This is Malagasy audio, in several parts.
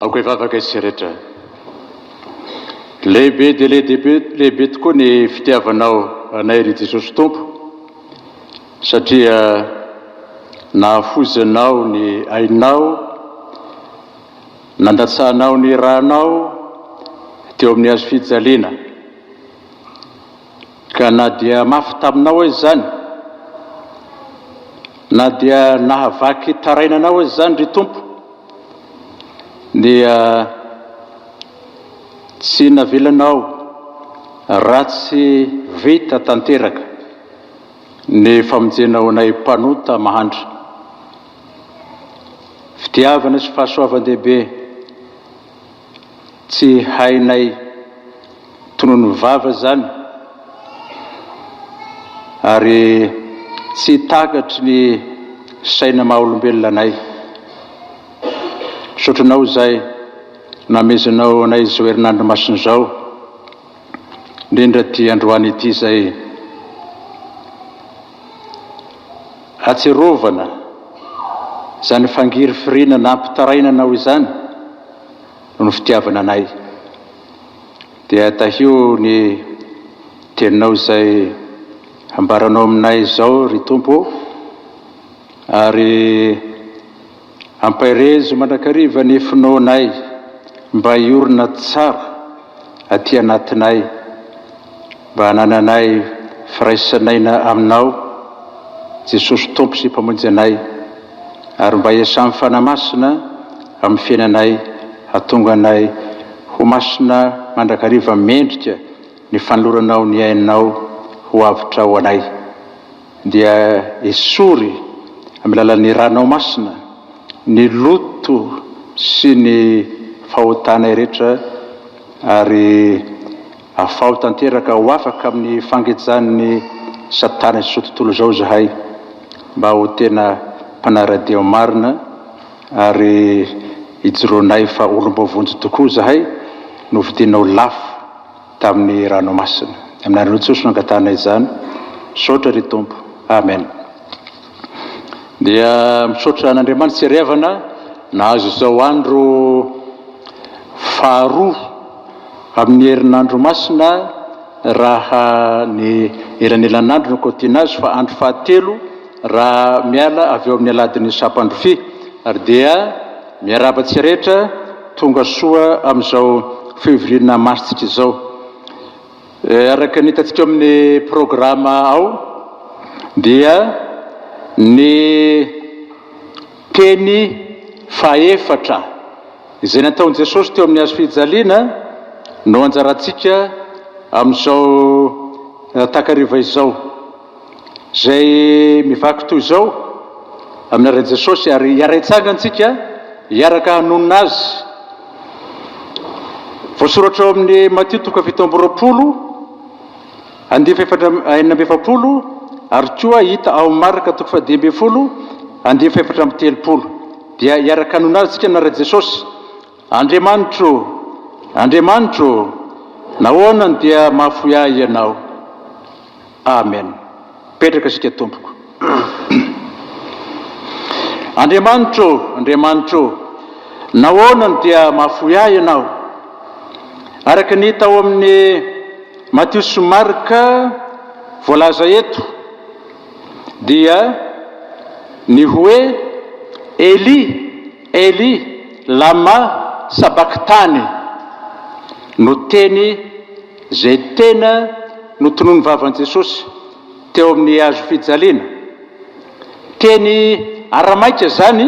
Aoka hivavaka isika rehetra. Lehibe dia lehibe tokoa ny fitiavanao anay, ry Jesosy Tompo, satria nahafoizanao ny ainao, nandatsahanao ny ranao teo amin'ny hazo fijaliana. Ka na dia mafy taminao aza izany, na dia nahavaky taraina anao aza izany, ry Tompo, dia tsy navelanao ratsy vita tanteraka ny famonjenao anay mpanota mahantra. Fitiavana sy fahasoavan-dehibe. Tsy hainay tonony vava zany ary tsy takatry ny saina maha olombelona anay. Misaotra anao izay namezanao anay izao herinandro masina izao, indrindra ity androany ity izay. Atsiarovana, izany fangirifiriana nampitarainana aho izany no ny fitiavana anay. Dia tahio ny teninao izay ambaranao aminay izao, ry Tompo ô, ary. Ampairezo mandrakariva ny finoanay mba hiorina tsara aty anatinay, mba hanananay firaisan'aina Aminao, Jesosy Tompo sy Mpamonjy anay, ary mba hiasan'ny Fanahy Masina amin'ny fiainanay hahatonga anay ho masina mandrakariva mendrika ny fanoloranao ny ainao ho avotra ho anay. dia esory amin'ny lalan'ny Ranao Masina ny loto sy ny fahotanay rehetra ary afaho tanteraka ho afaka amin'ny fangejan'ny satana izao tontolo izao izahay mba ho tena mpanara-dia marina ary ijoroanay fa olom-boavonjy tokoa izahay novidianao lafo tamin'ny ranomasina. Amin'ny anaran'i Jesosy no angatahana izany, misaotra ry Tompo, Amen. Dia misaotra an'Andriamanitra sy Ry Havana nahazo izao andro faharoa amin'ny herinandro masina raha ny elanelan'andro no kaotiana azy fa andro fahatelo raha miala avy eo amin'ny aladin'ny Sampandrofia ary dia Miarahaba tsy rehetra tonga soa amin'izao Février na Mars ntsika izao. Araka ny hitantsika ao amin'ny programa ao dia ny teny fahefatra izay nataon'i Jesosy teo amin'ny hazo fijaliana no anjarantsika amin'izao takariva izao. Izay mivaky toy izao amin'ny alalan'i Jesosy ary hiara-hitsanga antsika hiaraka hanonona Azy. Voasoratra ao amin'ny Matio toko fahafito amby roapolo andinin'ny fahefatra am- enina amby efapolo ary koa hita ao Marka toko fahadimy ambin'ny folo andinin'ny fahefatra amby telopolo. Dia hiaraka hanonona Azy antsika amin'anar'i Jesosy. Andriamanitro ô, Andriamanitro ô, nahoana no dia mahafoy ahy Ianao? Amen petraka isika tompoko. Andriamanitra ô! Andriamanitra ô! Nahoana no dia mahafoy ahy Ianao? Araka ny hita ao amin'ny Matio sy Marka voalaza eto, dia ny hoe Eli, Eli, lama sabakthani no teny. Izay tena notononin'ny vavan'i Jesosy teo amin'ny hazo fijaliana. Teny aramaika izany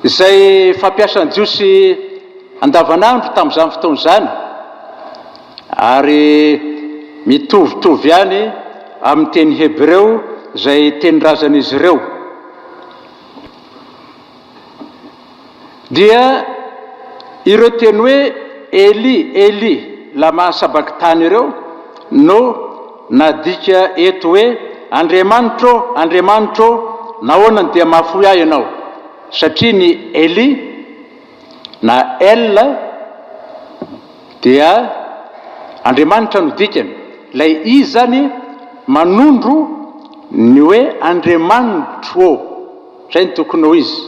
izay fampiasan'ny Jiosy andavanandro tamin'izany fotoana izany, ary mitovitovy ihany amin'ny teny hebreo izay tenin-drazan'izy ireo. Dia ireo teny hoe Eli, Eli, lama sabakthany ireo no nadika eto hoe Andriamanitro ô, Andriamanitro ô, nahoana no dia mahafoy ahy Ianao? Satria ny Eli na El dia Andriamanitra no dikany. Ilay I izany manondro ny hoe Andriamanitro ô. Izay no tokony ho izy.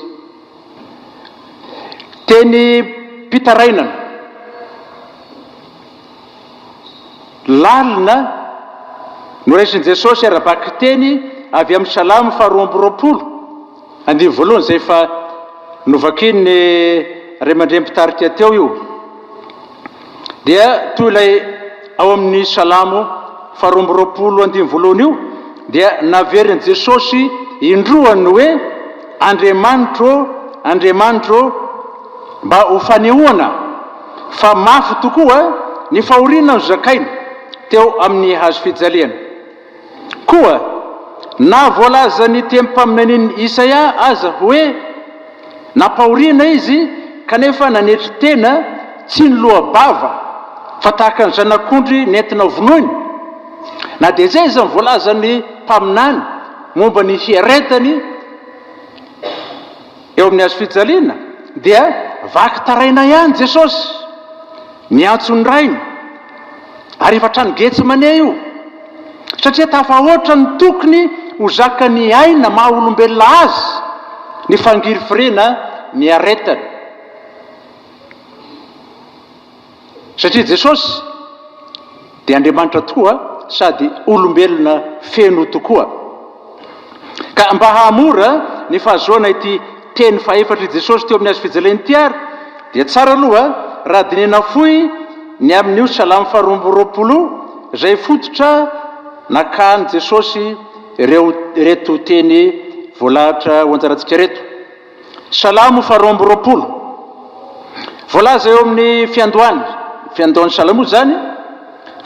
Tenim-pitarainana lalina noraisin'i Jesosy ara-bakiteny avy amin'ny Salamo faharoa amby roapolo, andinin'ny voalohany, izay efa novakian'ny Ray aman-dReny mpitarika teo io. Dia toy ilay ao amin'ny Salamo faharoa amby roapolo andininy voalohany io, dia naverin'i Jesosy indroa ny hoe, Andriamanitro ô, Andriamanitro ô, mba ho fanehoana fa mafy tokoa ny fahoriana nozakainy teo amin'ny hazofijaliana. Koa na voalazan'ny tem-paminanian'i Isaia aza hoe nampahoriana izy, kanefa nanetry tena tsy niloa-bava fa tahaka ny zanak'ondry nentina hovonoiny. Na dia izay aza ny voalazan'ny mpaminany momba ny fiaretany, Eo amin'ny hazo fijaliana dia vaky taraina ihany Jesosy, miantso ny Rainy, ary efa trano Getsemane io, satria tafahoatra ny tokony ho zakan'ny aina maha olombelona azy ny fangirifiriana niaretany. Satria Jesosy dia Andriamanitra tokoa sady olombelona feno tokoa. Ka mba hahamora ny fahazoana ity teny fahefatr' i Jesosy teo amin'ny hazo fijaliana ity ary dia tsara aloha raha dinihina fohy ny amin'io Salamo faharoa amby roapolo izay fototra nakan'i Jesosy ireto teny voalahatra ho anjarantsika ireto. Salamo faha roa amby roapolo. Voalaza eo amin'ny fiandohany, fiandohan'ny salamo izany,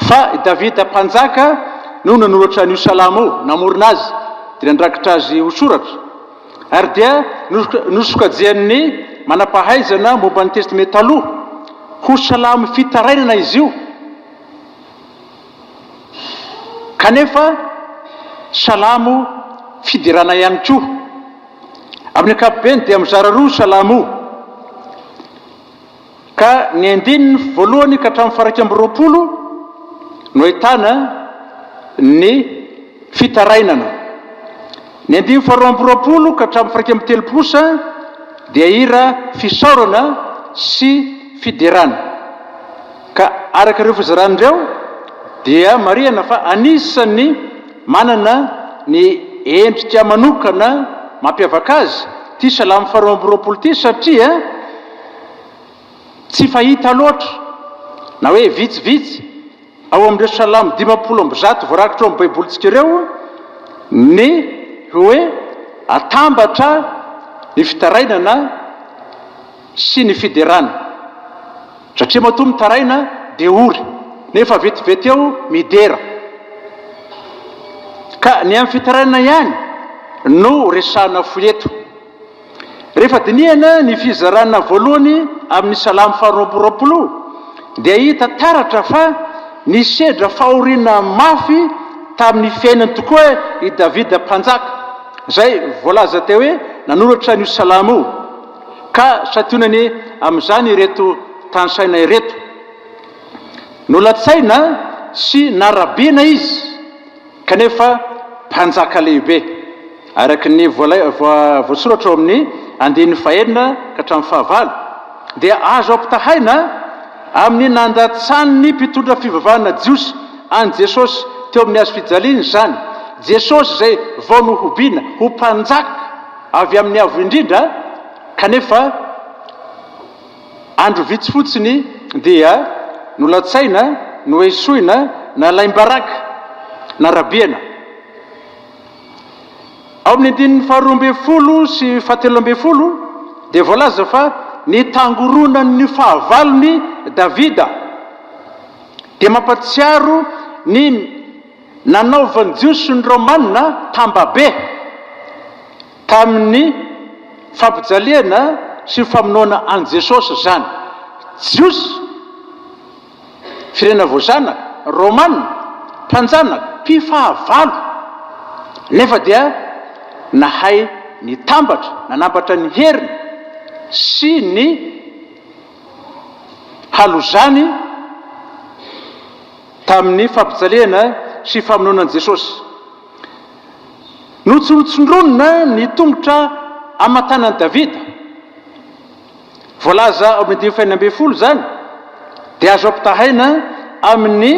fa i Davida mpanjaka no nanoratra an'io salamo io, namorona azy, dia nandrakitra azy ho soratra, ary dia nosokajian'ny manam-pahaizana momba ny Testamenta Taloha ho salamo fitarainana izy io, kanefa salamo fiderana ihany koa. Amin'ny ankapobeny dia mizara roa Salamo, ka ny andininy voalohany ka hatramin'ny faha-iraika amby roapolo no ahitana ny fitarainana. Ny andininy faharoa amby roapolo ka hatramin'ny faha-iraika amby telopolo kosa dia hira fisaorana sy fiderana. Ka araka ireo fizarana ireo dia marihana fa anisan'ny. Manana ny endrika manokana mampiavaka azy ity Salamo faharoa amby roapolo ity satria tsy fahita loatra na hoe vitsivitsy ao amin'ireo Salamo dimampolo amby zato voarakitra ao amin'ny Baibolintsika ireo ny hoe atambatra ny fitarainana sy ny fiderana satria matoa mitaraina dia ory nefa vetivety eo midera ka ny amin'ny fitarainana ihany no resahana fohy eto. Rehefa dinihana ny fizarana voalohany amin'ny Salamo faharoa amby roapolo dia hita taratra fa nisedra fahoriana mafy tamin'ny fiainany tokoa i Davida Mpanjaka izay voalaza teo hoe nanoratra an'io Salamo io. Ka santionany amin'izany ireto tanisaina ireto. Nolatsaina sy narabiana izy kanefa mpanjaka lehibe, araka ny voasoratra ao amin'ny andininy fahenina ka hatramin'ny fahavalo, dia azo ampitahaina amin'ny nandatsahan'ny mpitondra fivavahana jiosy an'i Jesosy teo amin'ny hazofijaliana izany Jesosy izay vao nohobiana ho mpanjaka. Avy amin'ny Avo Indrindra, kanefa andro vitsy fotsiny dia nolatsaina, noesoina, nalaim-baraka, narabihana. Ao amin'ny andininy faharoa ambin'ny folo sy fahatelo ambin'ny folo dia voalaza fa ny tangoronan'ny fahavalon'i Davida dia mampatsiaro ny. Nanaovan'ny Jiosy sy ny Romana tambabe tamin'ny fampijaliana sy ny famonoana an'i Jesosy izany. Jiosy, firenena voazanaka, Romana, mpanjanaka, mpifahavalo, nefa dia nahay nitambatra, nanambatra ny heriny sy ny halozany. Tamin'ny fampijalihana sy famonoana an'i Jesosy, notsonotsondronina ny tongotra aman-tanan'i Davida. Voalaza ao amin'ny andininy fahenina ambin'ny folo izany, dia azo ampitahaina amin'ny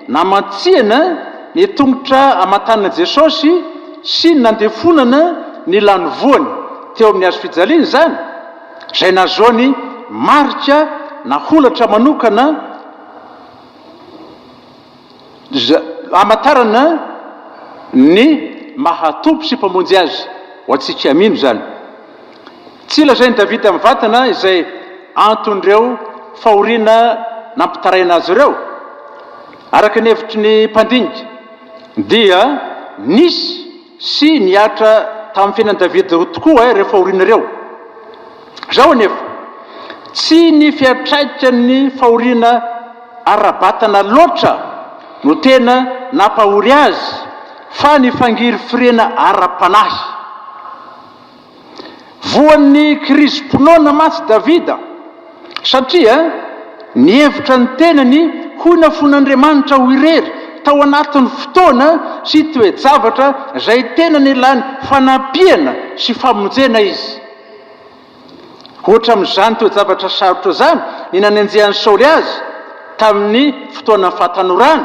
namantsihana ny tongotra aman-tanan'i Jesosy sy ny nandefonana ny lanivoany teo amin'ny hazo fijaliana izany, izay nahazoany marika na holatra manokana. Hamantarana ny maha Tompo sy Mpamonjy azy ho antsika. Mino izany. Tsy lazain'i Davida mivantana izay anton'ireo fahoriana nampitaraina azy ireo. Araka ny hevitry ny mpandinika dia nisy. Sy nihatra tamin'ny fiainan'i Davida roa tokoa aho rehefa aorian'ireo. Izao anefa, tsy ny fiantraikan'ny fahoriana ara-batana loatra no tena nampahory azy, fa ny fangirifiriana ara-panahy. Voan'ny kirizim-pinoana mantsy Davida, satria nihevitra ny tenany ho nafoin'Andriamanitra ho irery tao anatin'ny fotoana sy toe-javatra izay tena nilany fanampiana sy famonjena izy. Ohatra amin'izany toe-javatra sarotra izany ny nanenjehan'i Saoly azy tamin'ny fotoanan'ny fahatanorany,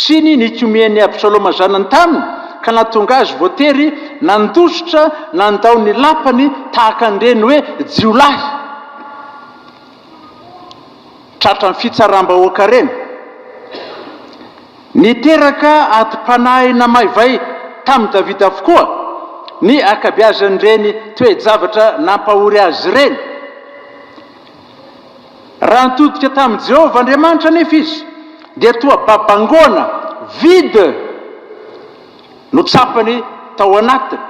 sy ny nikomian'i Absaloma zanany taminy, ka nahatonga azy voatery nandositra nandao ny lapany tahaka an'ireny hoe jiolahy. tratran'ny fitsaram-bahoaka ireny. Niteraka adim-panahy namaivay tamin'i Davida avokoa ny ankabeazan'ireny toe-javatra nampahory azy ireny. Raha nitodika tamin'i Jehovah Andriamanitra anefa izy, dia toa babangoana vide no tsapany tao anatiny.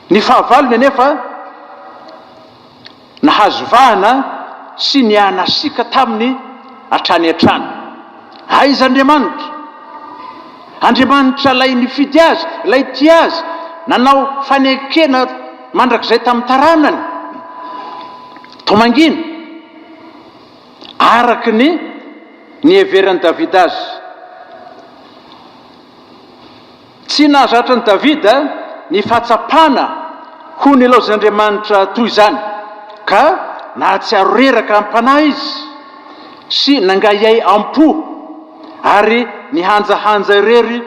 Ny fahavalony anefa nahazo vahana sy nihanasiaka taminy hatrany hatrany. Aiza Andriamanitra? Andriamanitra ilay nifidy azy, ilay tia azy, nanao fanekena mandrakizay tamin'ny taranany. Toa mangina, araka ny niheveran'i Davida azy. Tsy nahazatra an'i Davida ny fahatsapana ho nilaozan'Andriamanitra toy izany, ka nahatsiaro reraka am-panahy izy sy nangahiahy am-po ary nihanjahanja irery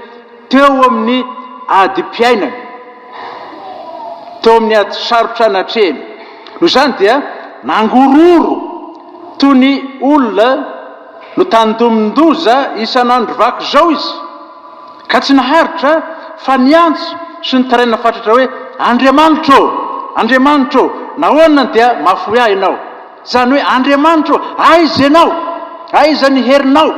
teo amin'ny adim-piainany, teo amin'ny ady sarotra natrehiny. Noho izany dia nangororo toy ny olona notandomin-doza isan'andro vaky izao izy. Ka tsy naharitra fa niantso sy nitaraina fatratra hoe, Andriamanitra ô! Andriamanitra ô! Nahoana dia mahafoy ahy Ianao? Izany hoe, Andriamanitra ô! Aiza Ianao? Aiza ny herinao?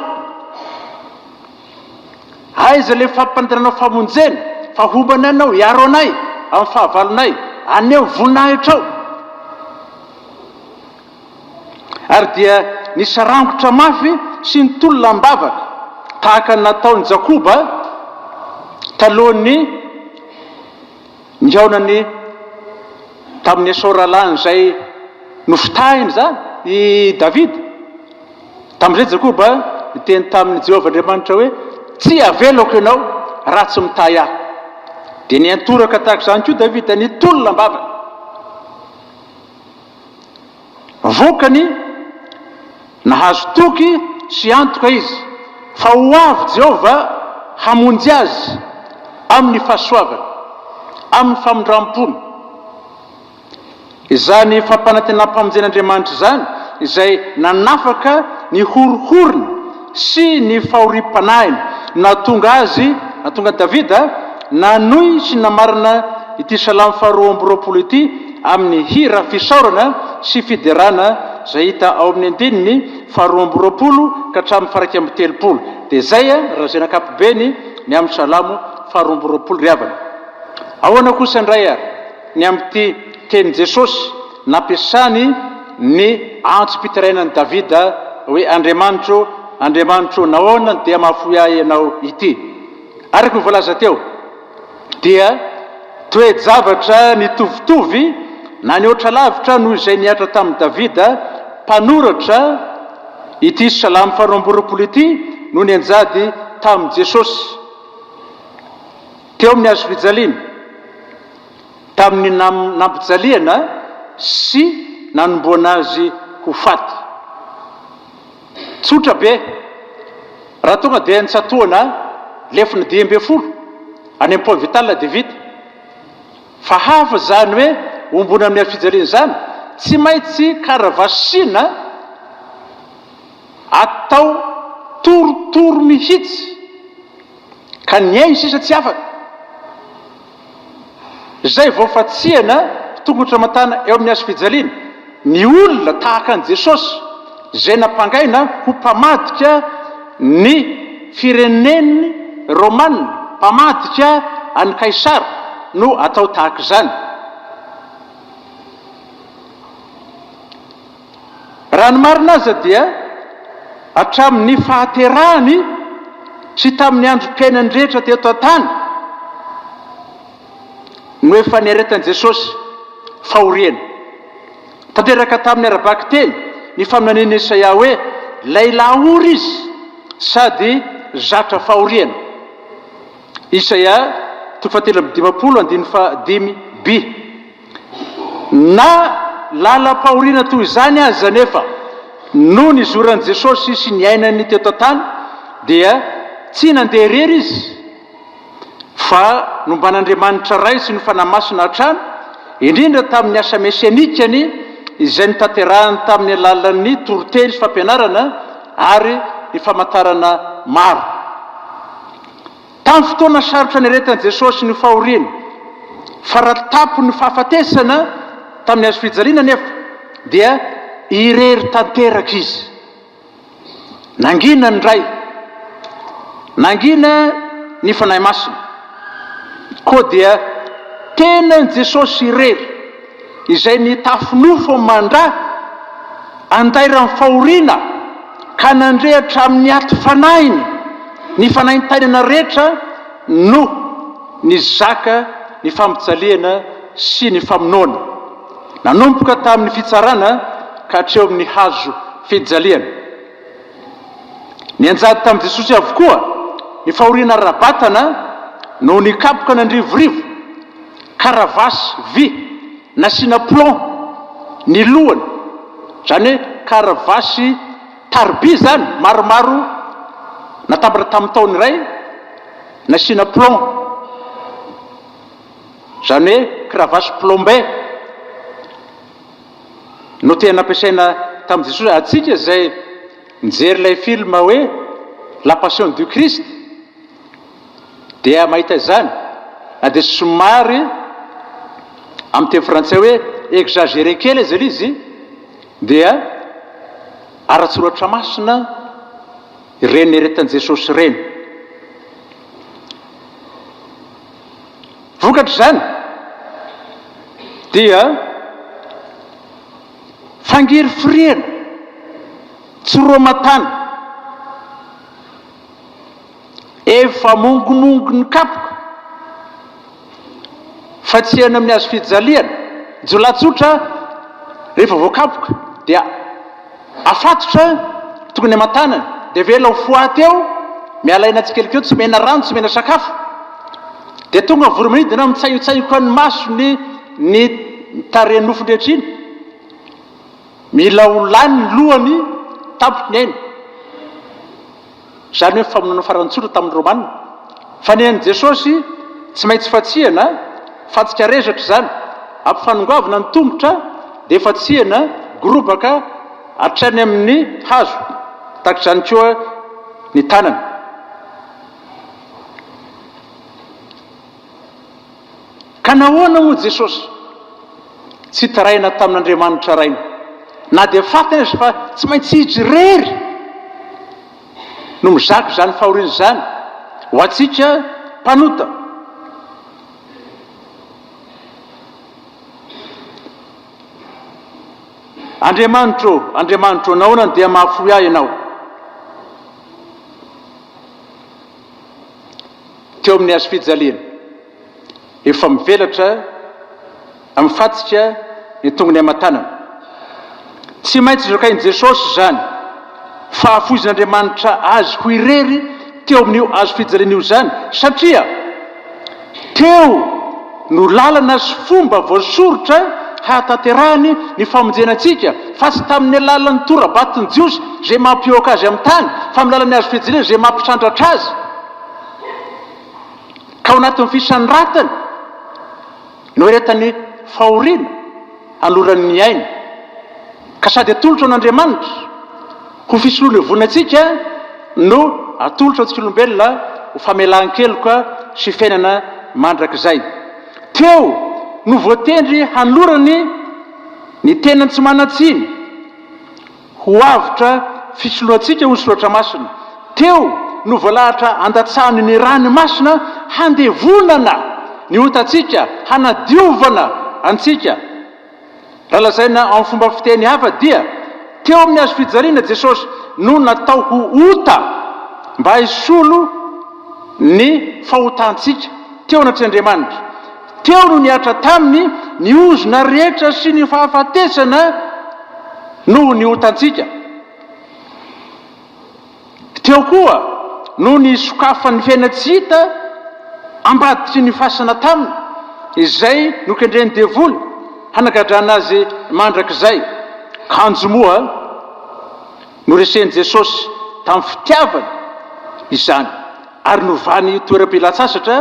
Aiza ilay fampanderanao famonjena? Fa homba anay Ianao, hiaro anay amin'ny fahavalonay. Aneho voninahitrao. ary dia nisarangotra mafy sy nitolona am-bavaka tahaka ny nataon'i Jakoba talohan'ny nihaonany tamin'i Esao rahalahiny izay nofitahiny izany i Davida. Tamin'izay Jakoba niteny tamin'i Jehovah Andriamanitra hoe, Tsy havelako ianao raha tsy mitahy ahy. Dia niantoraka tahaka izany koa Davida nitolona am-bavaka. Vokany, nahazo toky sy antoka izy fa ho avy Jehovah hamonjy azy amin'ny fahasoavany, amin'ny famindram-pony. Izany fampanantenam-pamonjen'Andriamanitra izany izay nanafaka ny horohorony. sy ny fahoriam-panahiny, nahatonga azy, nahatonga an'i Davida, nanohy sy namarana ity salamo faharoa amby roapolo ity amin'ny hira fisaorana sy fiderana izay hita ao amin'ny andininy faharoa amby roapolo ka hatramin'ny faharaika amby telopolo. Dia izay raha izay ny ankapobeny ny amin'ny salamo faharoa amby roapolo ry havana. Ahoana kosa indray ary ny amin'ity tenin'i Jesosy? Nampiasany ny antsipitarainan'i Davida hoe, Andriamanitro, Andriamanitro, nahoana no dia mahafoy ahy ianao ity? Araka ny voalaza teo, dia toe-javatra nitovitovy na nihoatra lavitra noho izay nihatra tamin'i Davida, mpanoratra ity salamo faharoa amby roapolo ity, no nianjady tamin'i Jesosy teo amin'ny hazofijaliana. Tamin'ny nampijaliana sy nanomboana azy ho faty. Tsotra be, raha tonga dia nitsatohana lefona dimy ambin'ny folo any amin'ny Pont Vital dia vita. Fa hafa izany hoe ombona amin'ny hafijaliana izany, tsy maintsy karavasina atao torotoro mihitsy ka ny ainy sisa tsy afaka. izay voafantsihana ho tongotra aman-tàna eo amin'ny hazo fijaliana, ny olona tahaka an'i Jesosy izay nampangaina ho mpamadika ny firenen'ny Romana, mpamadika an'i Kaisara, no atao tahaka izany. Raha ny marina aza dia hatramin'ny fahaterahany sy tamin'ny androm-piainany rehetra teto an-tany no efa niaretan'i Jesosy fahoriana. Tanteraka tamin'ny ara-bakiteny ny faminanian'i Esaia hoe lehilahy ory izy sady zatra fahoriana, Isaia toko fahatelo amby dimampolo andininy fahadimy, bi. Na lalam-pahoriana toy izany aza anefa, nony izoran'i Jesosy sy niainany teto an-tany, dia tsy nandeha irery izy, fa nomban'Andriamanitra Ray sy ny Fanahy Masina hatrany, indrindra tamin'ny asa mesianikany izay notanterahiny tamin'ny alalan'ny toriteny sy fampianarana ary ny famantarana maro. Tamin'ny fotoana sarotra niaretan'i Jesosy ny fahoriany, farany tampon'ny fahafatesana tamin'ny hazo fijaliana anefa dia irery tanteraka Izy. Nangina ny Ray. Nangina ny Fanahy Masina. Koa dia tenan'i Jesosy irery. izay nitafy nofo mandra andairan'ny fahoriana ka nandre hatramin'ny aty fanahiny ny fanaintainana rehetra no nizaka ny fampijaliana sy ny famonoana, nanomboka tamin'ny fitsarana ka hatreo amin'ny hazo fijaliana. Nianjady tamin'i Jesosy avokoa ny fahoriana ara-batana noho ny kapoka nandrivorivo, karavasy vy nasiana plomb ny lohany, izany hoe karavasy tariby izany maromaro natambatra tamin'ny tahony iray nasiana plomb, izany hoe kravasy plombée. no tena nampiasaina tamin'i Jesosy. Antsika izay nijery ilay film hoe La Passion du Christ dia mahita izany, na dia somary amin'ny teny frantsay hoe exagéré kely aza ilay izy dia ara-tsoratra masina ireny niaretan'i Jesosy ireny. Vokatr'izany dia fangirifiriana tsy roa aman-tany, efa mongomongo ny kapoka fa tsy eny amin'ny hazo fijaliana, jiolahy tsotra rehefa voakapoka dia. Afatotra, tokony aman-tanana, dia avela ho foaty eo, miala aina tsikelikely, tsy omena rano, tsy omena sakafo. Dia tonga ny voromanidina, mitsaiontsaioka ny masony, ny tarehiny, nofony rehetra iny. Mila ho lany ny lohany, tampony ny ainy. izany hoe ny famonoana farany tsotra tamin'ny Romana. Fanehan'i Jesosy tsy maintsy fatsihana, fantsika rezatra izany, ampifanongoavina ny tongotra dia fatsihana gorobaka hatrany amin'ny hazo, tahaka izany koa ny tanana. Ka nahoana moa Jesosy tsy taraina tamin'Andriamanitra Rainy? Na dia fatiny aza fa tsy maintsy Izy irery no mizaka izany fahoriana izany ho antsika mpanota. Andriamanitra ô, Andriamanitra ô, nahoana dia mahafoy ahy Ianao? teo amin'ny hazo fijaliana. Efa mivelatra amin'ny fatsika ny tongony aman-tanana. Tsy maintsy zokain'i Jesosy izany fahafoizan'Andriamanitra azy ho irery teo amin'io hazo fijaliana io izany, satria. Teo no lalana sy fomba voasoritra hahatanterahany ny famonjena antsika, fa tsy tamin'ny alalan'ny tora-baton'ny Jiosy izay mampihoaka azy amin'ny tany, fa amin'ny alalan'ny hazo fijaliana izay mampisandratra azy ka ao anatin'ny fisanratany. Noeretany fahoriana hanolorany ny ainy, ka sady atolotra an' Andriamanitra ho fisolovoana antsika no atolotra antsika olombelona ho famelan-keloka sy fiainana mandrakizay. Teo no voatendry hanolorany ny tenany tsy manan-tsiny. Ho avotra fisoloantsika ho soratra masina. Teo no voalahatra handatsahany ny rany masina handevonana ny otantsika, hanadiovana antsika. Raha lazaina amin'ny fomba fiteny hafa dia, teo amin'ny hazo fijaliana Jesosy no natao ho ota mba hisolo ny fahotantsika teo anatrehan'Andriamanitra. Teo no nihatra taminy ny ozona rehetra sy ny fahafatesana noho ny otantsika. Teo koa no nisokafan'ny fiainana tsy hita ambadiky ny fasana taminy, izay nokendren'ny devoly hanagadrana azy mandrakizay. Kanjo moa. Noresen'i Jesosy tamin'ny fitiavana izany ary novany ho toeram-pilatsasatra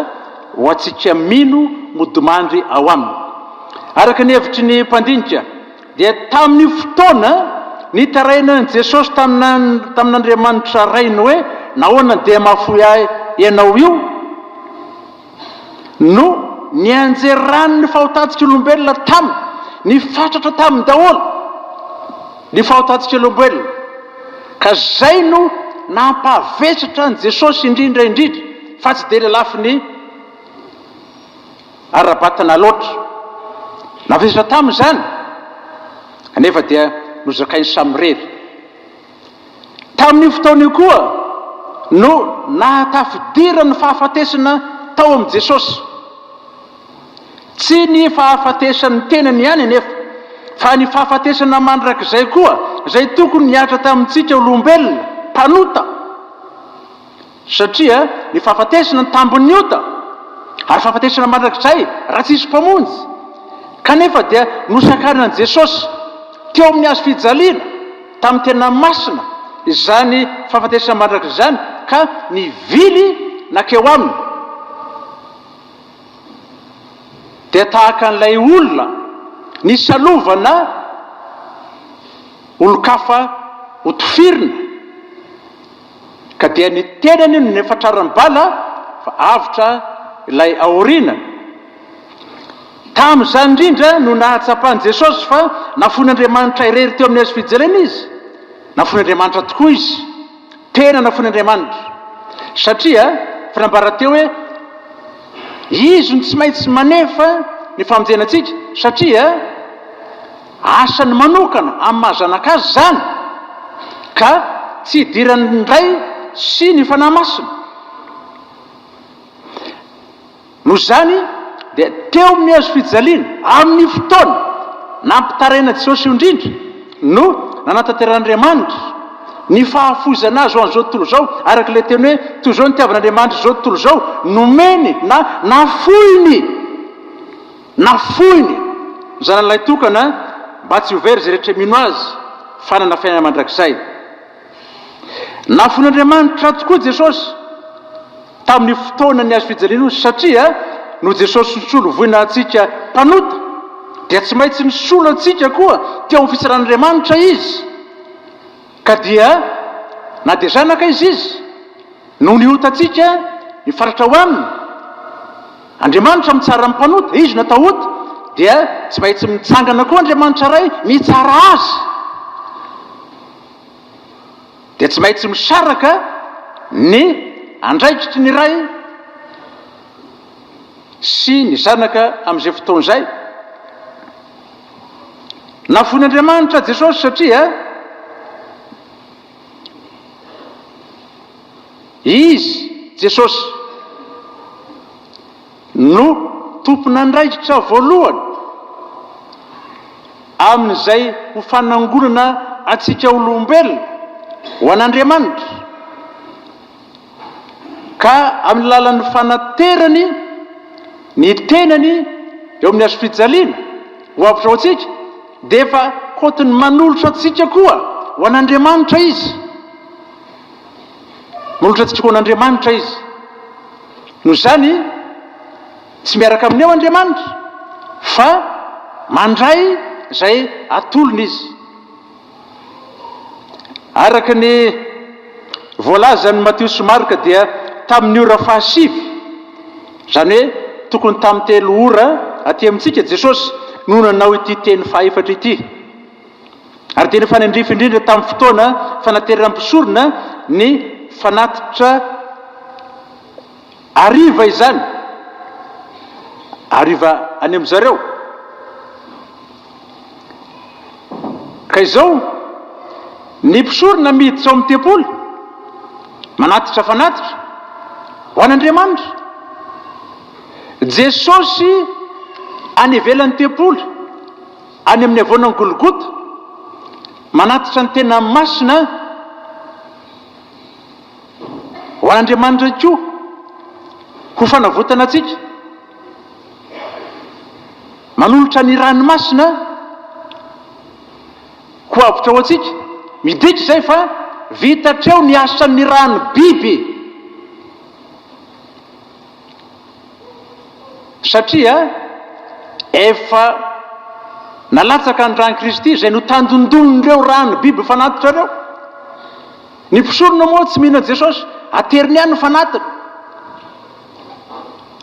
ho antsika mino modimandry ao Aminy. Araka ny hevitry ny mpandinika, dia tamin'io fotoana nitarainan'i Jesosy tamin'Andriamanitra Rainy hoe, Nahoana andeha mahafoy Ahy ianao io? No nianjera rano ny fahotantsikaolombelona taminy. Nifatratra taminy daholo ny fahotantsikaolombelona. Ka zay no nampahavesatra an'i Jesosy indrindra indrindra, fa tsy dia ny lafiny ara-batana loatra. Navesatra taminy zany, anefa dia nozakainy samirery. Tamin'io fotoana io koa no nahatafidirany ny fahafatesana tao amin'i Jesosy. Tsy ny fahafatesan'ny tenany ihany anefa, fa ny fahafatesana mandrakizay koa, izay tokony nihatra tamintsika olombelona mpanota, Satria ny fahafatesana no tambin'ny ota, ary fahafatesana mandrakizay raha tsy hisy Mpamonjy. Kanefa dia nosakaran'i Jesosy, teo amin'ny hazo fijaliana, tamin'ny tena masina izany fahafatesana mandrakizay izany, ka nivily nankeo Aminy. Dia tahaka an'ilay olona nisalovana olon-kafa ho tifirina. Ka dia ny tenany no nifatrarany bala fa avotra ilay aoriana. Tamin'izany indrindra no nahatsapan'i Jesosy fa nafoin'Andriamanitra irery teo amin'ny hazo fijaliana izy. Nafoin'Andriamanitra tokoa izy. Tena nafoin'Andriamanitra. Satria efa nambara teo hoe Izy no tsy maintsy manefa ny famonjena antsika satria. Asany manokana amin'ny maha zanaka azy izany, ka tsy idiran'ny Ray sy ny Fanahy Masina. Noho izany dia teo amin'ny hazo fijaliana, amin'ny fotoana nampitaraina Jesosy io indrindra, no nanatanteran'Andriamanitra ny fahafoizana Azy ho an'izao tontolo izao, araka ilay teny hoe, Toy izao nitiavan'Andriamanitra izao tontolo izao, nomeny na nafoiny. Nafoiny ny zanany lahitokana mba tsy ho very izay rehetra mino Azy fa hanana fiainana mandrakizay. Nafoin'Andriamanitra tokoa Jesosy tamin'ny fotoana ny Hazo fijaliana io satria noho Jesosy nisolo voina antsika mpanota dia tsy maintsy nisolo antsika koa teo amin'ny fitsaran'Andriamanitra Izy ka dia na dia zanaka Izy Izy noho ny otantsika mifatratra ho Aminy Andriamanitra mitsara ny mpanota, izy no atao ota, dia tsy maintsy mitsangana koa Andriamanitra Ray mitsara azy. Dia tsy maintsy misaraka ny andraikitry ny Ray sy ny Zanaka amin'izay fotoana izay. Navoin'Andriamanitra Jesosy satria. Izy, Jesosy, no tompon'andraikitra voalohany amin'izay ho fanangonana antsika olombelona ho an'Andriamanitra, ka amin'ny alalan'ny fanaterany ny tenany eo amin'ny hazofijaliana ho avotra ho antsika, dia efa kotiny manolotra antsika koa ho an'Andriamanitra Izy. Manolotra tsitoha an'Andriamanitra izy. Noho izany, tsy miaraka amin'ny eo Andriamanitra, fa mandray izay atolony izy. Araka ny voalazan'i Matio sy Marka dia tamin'ny ora fahasivy, izany hoe tokony tamin'ny telo ora aty amintsika, Jesosy no nanao ity teny fahaefatra ity. ary dia nifanandrify indrindra tamin'ny fotoana fanateran'ny mpisorona ny fanatitra hariva izany, hariva any amin-dry zareo. Ka izao, ny mpisorona miditra ao amin'ny tempoly, manatitra fanatitra ho an'Andriamanitra. Jesosy any ivelan'ny tempoly. Any amin'ny havoanan'i Golgota, manatitra ny tena masina ho an'Andriamanitra ihany koa ho fanavotana antsika. Manolotra ny rany masina ho avotra ho antsika. Midika izay fa vita hatreo ny asan'ny rano biby. Satria efa nalatsaka ny ran'i Kristy izay notandindonin'ireo ràn'ny biby fanatitra ireo. Ny mpisorona moa tsy mino an'i Jesosy, ateriny ihany ny fanatiny.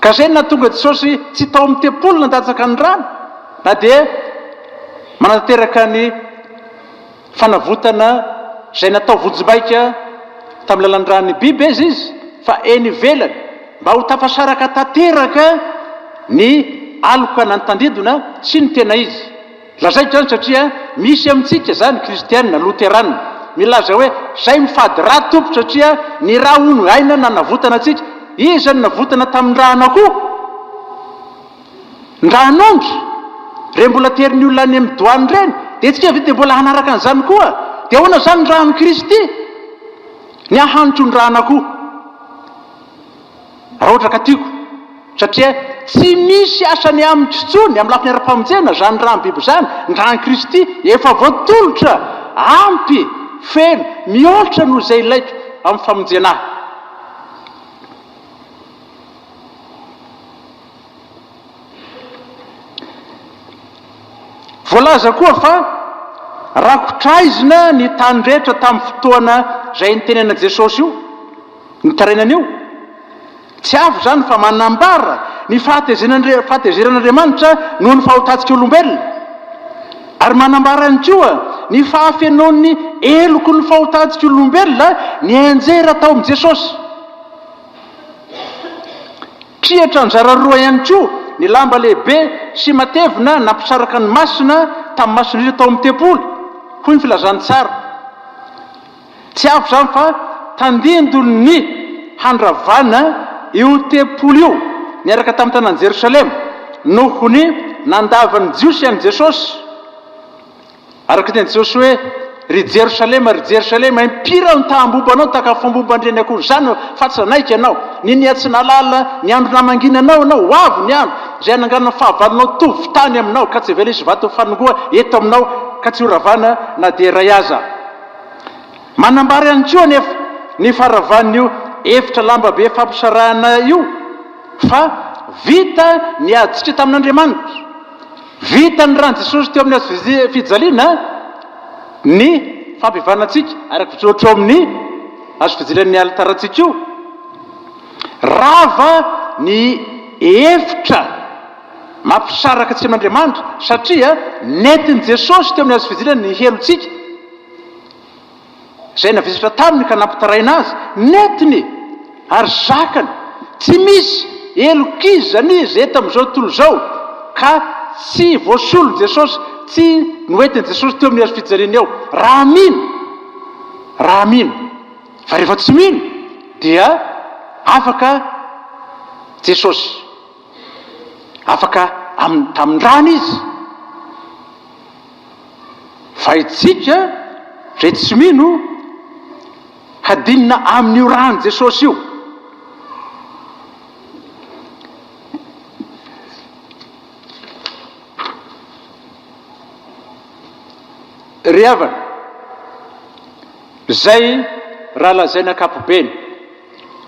Ka izay no nahatonga Jesosy tsy tao amin'ny tempoly nandatsaka ny ràny, na dia manatanteraka ny Fanavotana izay natao vonjimbaika tamin'ny lalan-dran'ny Bibes izy fa eny ivelany mba ho tafasaraka tanteraka ny aloka na ny tandindona sy ny tena izy. Lazaiko izany satria misy amintsika izany kristiana loterana milaza hoe izay mifady ra tompoko satria ny ra hono aina nanavotana antsika. Iza no navotana tamin'ny ra an'akoho? Ndrahanongy, rey mbola tery ny olona any amin'ny doany ireny, dia antsika ve dia mbola hanaraka an'izany koa? Dia ahoana izany ny ràn'ny Kristy? Ny ahy hanitro ny ràna koa, raha ohatra ka tiako, satria tsy misy asany amiko intsony amin'ny lafiny ara-pamonjena izany ràn'ny biby izany, ny ràn'ny Kristy efa voatolotra, ampy, feno, mihoatra noho izay ilaiko amin'ny famonjena ahy. Voalaza koa fa rakotra aizina ny tany rehetra tamin'ny fotoana izay nitenenan' i Jesosy io nitarainana io. Tsy hafa izany fa manambara ny fahatezeran' Andriamanitra noho ny fahotantsika olombelona, ary manambara ihany koa ny fahafenoan'ny heloky ny fahotantsika olombelona nianjera tao amin' i Jesosy. Triatra anjara roa ihany koa ny lamba lehibe sy matevina nampisaraka ny Masina tamin'ny mason'ireo tao amin'ny tempoly, hoy ny filazantsara. Tsy avy izany fa tandindon'ny handravana io tempoly io niaraka tamin'ny tanàn'i Jerosalema noho ny nandavan'ny Jiosy an'i Jesosy. Araka teny Josoe, Ry Jerosalema, ry Jerosalema, impiry aho nitahamboba anao, takafomboba an-dreny akory izany aho, fa tsy nanaiky ianao. Niniha tsy nahalala ny andro namanginanao ianao, ho avy ny andro izay hananganana fahavalonao tovy tany aminao, ka tsy havela hisy vato fanongoa eto aminao, ka tsy horavana na dia iray aza. Manambara ihany koa anefa ny faharavan'io efitra lamba be fampisarahana io, fa vita ny adintsika tamin'Andriamanitra. Vita ny ran'i Jesosy teo amin'ny hazo fijaliana ny fampihavanantsika, ary mijoro eo amin'ny hazo fijalian'ny alitarantsika io. Rava ny hevitra mampisaraka tsy hain'Andriamanitra, satria nentin'i Jesosy teo amin'ny hazo fijaliana ny helotsika. Izay navesatra taminy ka nampitaraina azy, nentiny e! Ary zakany! Tsy misy! Helok'izy izany izy eto amin'izao tontolo izao, ka tsy voasolon'i Jesosy, tsy noentin'i Jesosy teo amin'ny hazofijaliana eo. Raha mino! Raha mino! Fa rehefa tsy mino, dia afaka Jesosy. Afaka amin'ny tamin-drany izy. Vaintsika re tsy mino hadinina amin'io ran'i Jesosy io. Ry havana, izay raha lazaina ankapobeny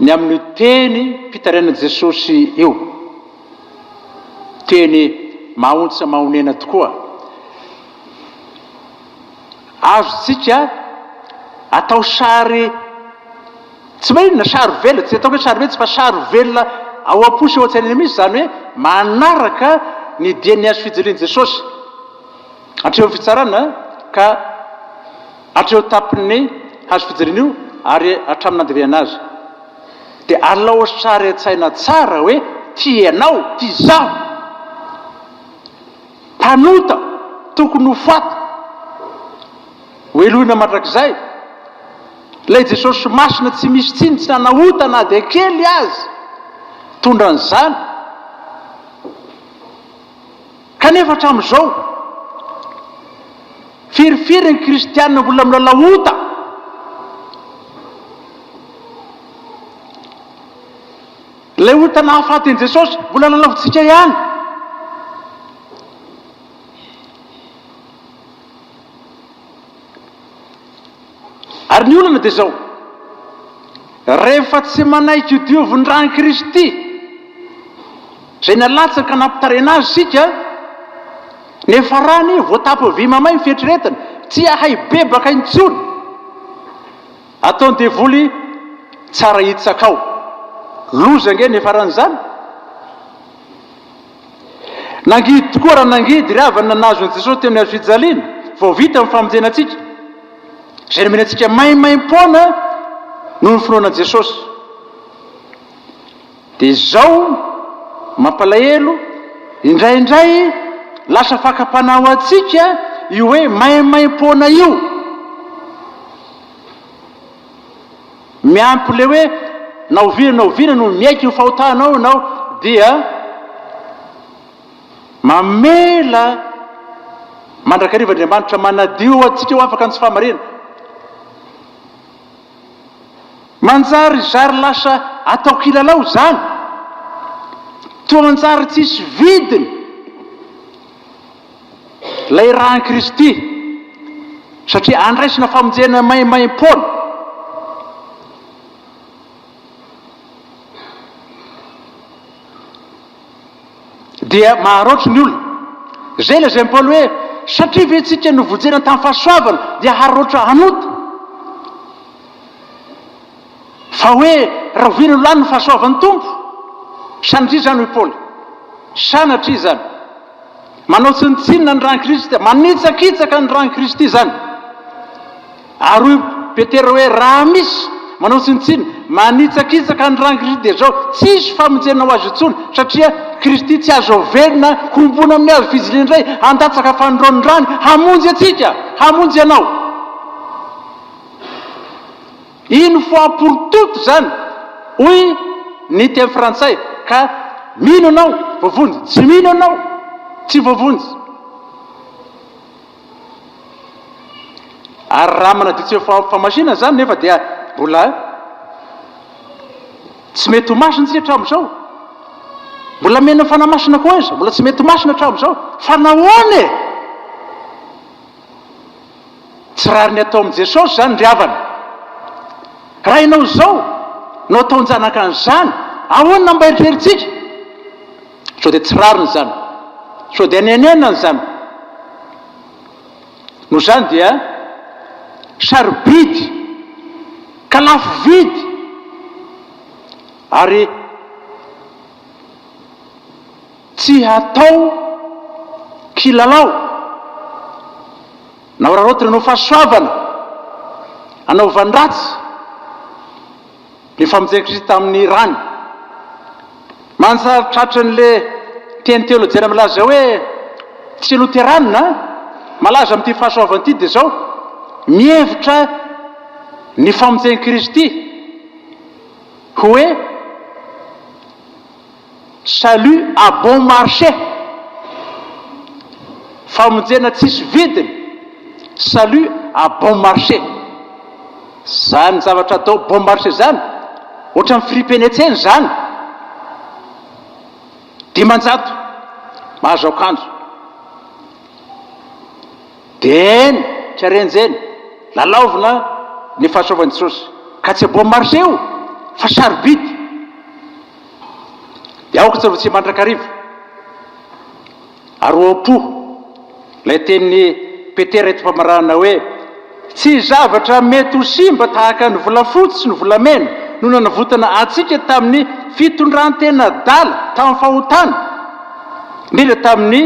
ny amin'io tenim-pitarainan'i Jesosy io. teny mahaontsa mahonena tokoa. Azontsika atao sary tsy mahay inona, sary velona, tsy ataoko hoe sary vetsy fa sary velona ao am-po sy ao an-tsainana mihitsy izany hoe manaraka ny dian'ny hazo fijalian'i Jesosy hatreo amin'ny fitsarana ka hatreo tampin'ny hazo fijaliana io ary hatramin'ny nandevenana azy. dia alao sary an-tsaina tsara hoe tia ianao, tia izaho. Mpanota, tokony ho faty, hohelohina mandrakizay. Ilay Jesosy Masina tsy misy tsiny, tsy nanao ota na dia kely aza, tondra an'izany. Kanefa hatramin'izao, firifiry ny kristiana mbola milalao ota? Ilay ota nahafaty an'i Jesosy, mbola lalaovintsika ihany. Ary ny olana dia izao, rehefa tsy manaiky io diovin ran'i Kristy izay nalatsaka nampitarena azy isika, nefa ra anie voatapy vy mamay ny fieritreretana, tsy hahay bebaka intsony, ataon'ny devoly tsara hitsaka ao. Loza ange ny hiafaran'izany. Nangidy tokoa raha nangidy ry havana ny nahazo an'i Jesosy teo amin'ny hazo fijaliana. Vao vita ny famonjena antsika. Izay nomena antsika maimaim-poana noho ny finoana an'i Jesosy. Dia izao, mampalahelo, indraindray lasa fakam-panahy ho antsika io hoe maimaim-poana io. Miampy ilay hoe na oviana na oviana no miaiky ny fahotanao ianao dia mamela mandrakariva Andriamanitra manadio antsika ho afaka ny tsy fahamariana. Manjary zary lasa atao kilalao izany, toa manjary tsisy vidiny. Ilay ran'i Kristy, satria handraisina famonjena maimaimpoana. Dia maharaotra ny olona. Izay lazain'i Paoly hoe, satria ve isika novonjena tamin'ny fahasoavana dia haraotra hanota? Fa hoe rahoviana no lany ny fahasoavan'ny Tompo? Sanatria izany, hoy Paoly. Sanatria izany. Manao tsinontsinona ny ran'i Kristy, manitsakitsaka ny ran'i Kristy izany. Ary hoy Petera hoe raha misy manao tsinontsinona, manitsakitsaka ny ran'i Kristy dia izao, tsy hisy famonjena ho azy intsony, satria Kristy tsy azo averina homboana amin'ny hazo fijiliana indray, handatsaka fanondroan'ny rany hamonjy antsika, hamonjy anao. Une fois pour toute zany hoy ny teny frantsay ka mino anao voavonjy tsy mino anao tsy voavonjy. Ary raha manadio tsy ho famasinana zany nefa dia mbola tsy mety ho masina tsika hatramin'izao. Mbola mena ny fanahy masina koa aiza? Mbola tsy mety ho masina hatramin'izao. Fa nahoana e? Tsy rariny atao amin'i Jesosy izany ry havana. Raha ianao izao no ataon-janaka an'izany, ahoana mba eritreritsika? Sao dia tsy rariny izany? Sao dia nenenany izany? Noho izany dia sarobidy ka lafo vidy ary Tsy hatao kilalao na hararaotina anao fahasoavana hanaovan-dratsy ny famonjena Kristy tamin'ny rany. Manjary tratran'ilay teny teolojiana milaza hoe tsy loterana malaza amin'ity fahasoavana ity dia izao, mihevitra ny famonjen'i Kristy hoe Salut à bon marché! Famonjena tsisy vidiny! Salut à bon marché! Zany zavatra atao bon marché zany ohatran'ny fripene tsena zany! Dimanjato mahazo akanjo! Deen tsy arenjeny! Lalaovina ny fahasoavan'i Jesosy ka tsy bon marché io fa sarobidy! Dia aoka tsy arotsika mandrakariva ary ho am-po ilay tenin'i Petera eto am-pamaranana hoe, Tsy zavatra mety ho simba tahaka ny volafotsy sy ny volamena no nanavotana antsika tamin'ny fitondran-tena adala tamin'ny fahotana, indrindra tamin'ny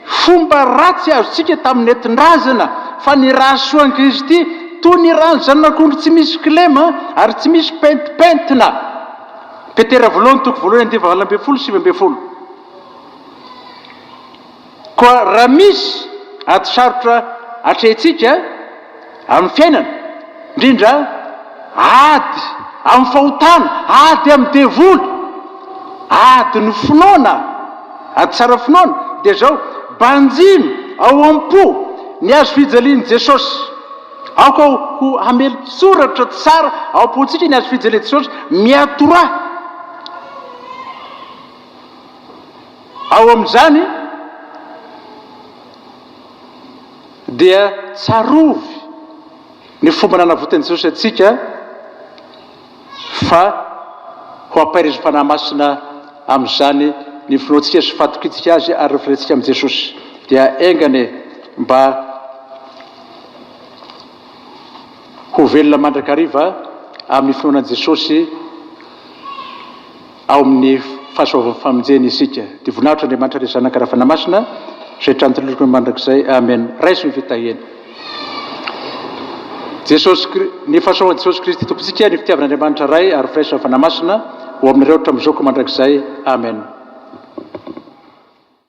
Fomba ratsy azontsika tamin'ny nentin-drazana, fa ny ra soan'i Kristy, toy ny ran'ny zanak'ondry tsy misy kilema ary tsy misy pentimpentina. Petera voalohany toko voalohany andininy fahavalo ambin'ny folo sy sivy ambin'ny folo. Koa raha misy ady sarotra atrehintsika, Amin'ny fiainana, indrindra ady amin'ny fahotana, ady amin'ny devoly, ady ny finoana, ady tsara finoana, dia izao, Banjino ao am-po ny hazo fijalian'i Jesosy. Aoka ho hamelin-tsoratra tsara ao am-pontsika ny hazo fijalian'i Jesosy miatoraha. Ao amin'izany, dia tsarovy ny fomba nanavotan'i Jesosy antsika fa ho ampahirizin'ny Fanahy Masina amin'izany ny finoantsika sy fahatokiantsika Azy ary ny firentsika amin'i Jesosy. Dia enga anie mba ho velona mandrakariva amin'ny finoana an'i Jesosy. ao amin'ny fahasoavan'ny famonjena isika. Dia voninahitr' Andriamanitra Ilay Zanaka Ravanamasina izay trantilokony mandrakizay. Amen. Raiso ny fitahiana. Jesosy Kri. Ny fahasoavan'i Jesosy Kristy Tompontsika, ny fitiavan'Andriamanitra Ray ary firaisin'ny Ravanamasina ho aminareo hatramin'izao ka mandrakizay. Amen.